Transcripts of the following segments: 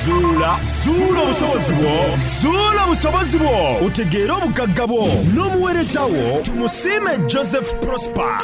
zuula zuula obusobozi bwo zuula obusobozi bwo otegeere obugagga bwo n'omuweereza wo tumusiime joseph prosper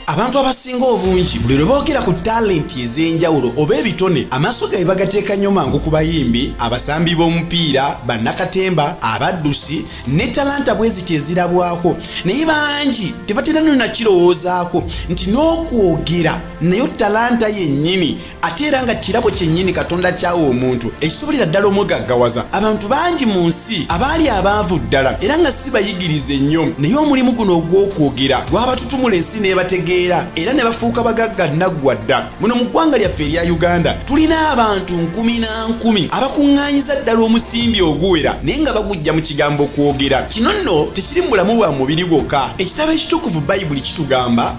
abantu abasinga obungi buli lwe boogera ku talenti ez'enjawulo oba ebitone amaaso gabe bagateeka nnyo mangu ku bayimbi abasambi b'omupiira bannakatemba abaddusi ne talanta bwe ziti ezirabwako naye bangi tebatera nyo nakirowoozaako nti n'okwogera naye talanta yennyini ate era nga kirabo kyennyini katonda kyawa omuntu ekisobolera ddala omugaggawaza abantu bangi mu nsi abaali abaavu ddala era nga si bayigirize nnyo naye omulimu guno ogw'okwogera gwabatutumula ensi nebategeera era ne bafuuka bagagga naggwa dda muno mu ggwanga lyaffe erya uganda tulina abantu nkumi na nkumi abakuŋŋaanyiza ddala omusimbi oguwera naye nga bagujja mu kigambo kwogera kino nno tekiri mu bulamu bwa mubiri gwokka ekitabo ekitukuvu bayibuli kitugamba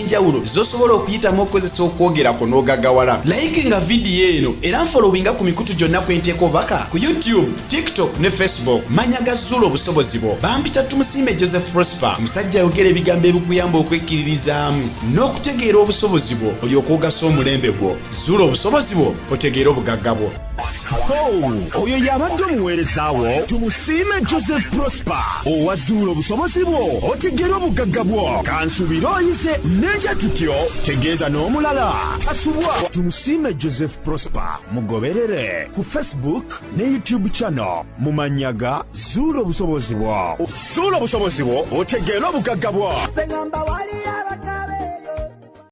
enjawulo zosobola okuyitamu okukozesa okwogera kwo n'ogagawala layiki nga vidiyo eno era nfolowinga ku mikutu gyonna kwenteeka obaka ku youtube tiktok ne facebook manya gazuula obusobozi bwo bampita tumusiime joseph prosper musajja ayogera ebigambo ebikuyamba okwekkiririzaamu n'okutegeera obusobozi bwo olyoka ogasa omulembe gwo zuula obusobozi bwo otegeere obugagga bwo oyo yabadde omuweerezaawo tumusiime joseph prosper owazuula obusobozi bwo otegera obugagga bwo kansuubire oyize n'ekya tutyo tegeeza n'omulala tasubwa tumusiime joseph prosper mugoberere ku facebook ne youtube channel mu mannya ga zuula obusobozi bwo zuula obusobozi bwo otegeera obugagga bwo